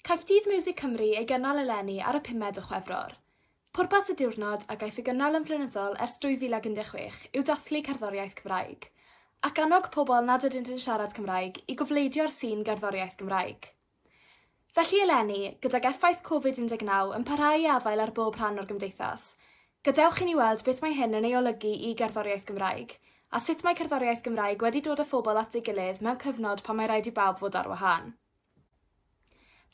Caiff Dydd Miwsig Cymru ei gynnal eleni ar y pumed o Chwefror. Pwrpas y diwrnod, a gaiff ei gynnal yn flynyddol ers 2016, yw dathlu cerddoriaeth Cymraeg, ac annog pobl nad ydynt yn siarad Cymraeg i gofleidio'r sîn gerddoriaeth Gymraeg. Felly eleni, gydag effaith Covid 19 yn parhau i afael ar bob rhan o'r gymdeithas, Gadewch i ni weld beth mae hyn yn ei olygu i gerddoriaeth Gymraeg, a sut mae cerddoriaeth Gymraeg wedi dod â phobl at ei gilydd mewn cyfnod pan mae raid i bawb fod ar wahân.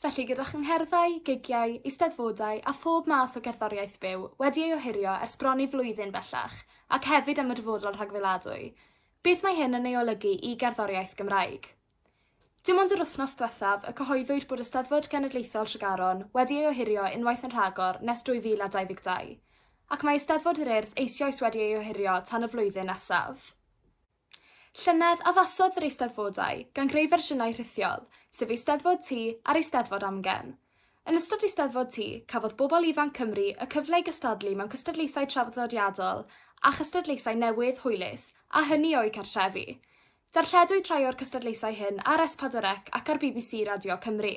Felly, gyda chyngherddau, gigiau, eisteddfodau a phob math o gerddoriaeth byw wedi ei ohirio ers bron i flwyddyn bellach, ac hefyd am y dyfodol rhagfeladwy, beth mae hyn yn ei olygu i gerddoriaeth Gymraeg? Dim ond yr wythnos ddiwethaf y cyhoeddwyd bod Eisteddfod Genedlaethol Tregaron wedi ei ohirio unwaith yn rhagor nes 2022, ac mae Eisteddfod yr Urdd eisioes wedi ei ohirio tan y flwyddyn nesaf. Llynedd, addasodd yr Eisteddfodau, gan greu fersiynau rhithiol, sef Eisteddfod Ty a'r Eisteddfod Amgen. Yn ystod Eisteddfod Ty, cafodd bobl ifanc Cymru y cyfle i gystadlu mewn cystadlaethau traddodiadol a chystadlaethau newydd, hwylus, a hynny o'u cartrefi. Darlledwyd rhai o'r cystadlaethau hyn ar S4C ac ar bbc Radio Cymru.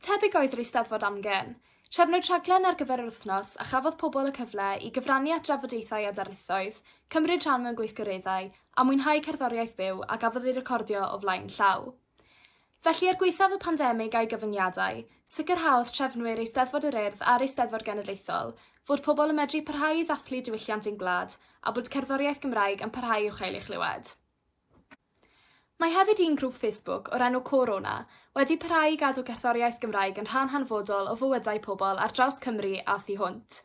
Tebyg oedd yr Eisteddfod Amgen. Trefnwyd rhaglen ar gyfer yr wythnos a chafodd pobl y cyfle i gyfrannu at drafodaethau a darlithoedd, cymryd rhan mewn gweithgareddau a mwynhau cerddoriaeth byw a gafodd ei recordio o flaen llaw. Felly, er gwaethaf y pandemig a'i gyfyngiadau, sicrhaodd trefnwyr Eisteddfod yr Urdd a'r Eisteddfod Genedlaethol fod pobl yn medru parhau i ddathlu diwylliant ein gwlad a bod cerddoriaeth Gymraeg yn parhau i'w chael ei chlywed. Mae hefyd un grŵp Facebook o'r enw CôrO'na wedi parhau i gadw cerddoriaeth Gymraeg yn rhan hanfodol o fywydau pobl ar draws Cymru a thu hwnt.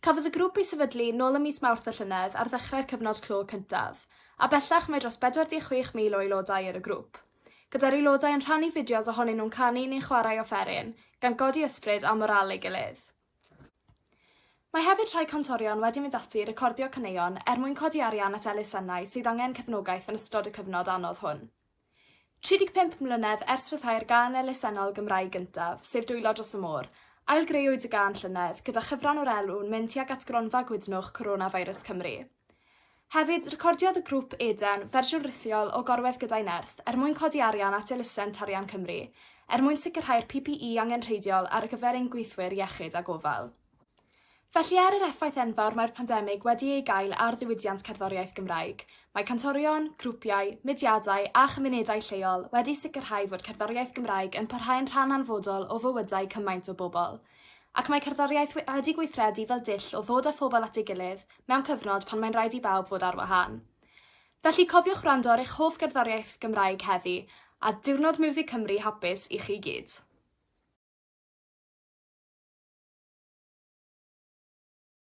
Cafodd y grŵp ei sefydlu nôl ym mis Mawrth y llynedd ar ddechrau'r cyfnod clo cyntaf, a bellach mae dros 46,000 o aelodau ar y grŵp. gyda'r aelodau yn rhannu fideos ohonyn nhw'n canu neu'n chwarae offeryn, gan godi ysbryd a moral ei gilydd. Mae hefyd rhai cantorion wedi mynd ati i recordio caneuon er mwyn codi arian at elusennau sydd angen cefnogaeth yn ystod y cyfnod anodd hwn. 35 mlynedd ers rhyddhau'r gân elusennol Gymraeg gyntaf, sef Dwylo Dros y Môr, ail-greuwyd y gân llynedd, gyda chyfran o'r elw'n mynd tuag at gronfa gwydnwch Coronavirus Cymru. Hefyd, recordiodd y grŵp Eden fersiwn rithiol o Gorwedd Gyda'i Nerth er mwyn codi arian at elusen Tarian Cymru, er mwyn sicrhau'r PPE angenrheidiol ar gyfer ein gweithwyr iechyd a gofal. Felly, er yr effaith enfawr mae'r pandemig wedi ei gael ar ddiwydiant cerddoriaeth Gymraeg, mae cantorion, grwpiau, mudiadau a chymunedau lleol wedi sicrhau fod cerddoriaeth Gymraeg yn parhau'n rhan anfodol o fywydau cymaint o bobl. Ac mae cerddoriaeth wedi gweithredu fel dull o ddod â phobl at ei gilydd mewn cyfnod pan mae'n rhaid i bawb fod ar wahân. Felly cofiwch wrando ar eich hoff gerddoriaeth Gymraeg heddi, a Diwrnod Miwsig Cymru hapus i chi gyd!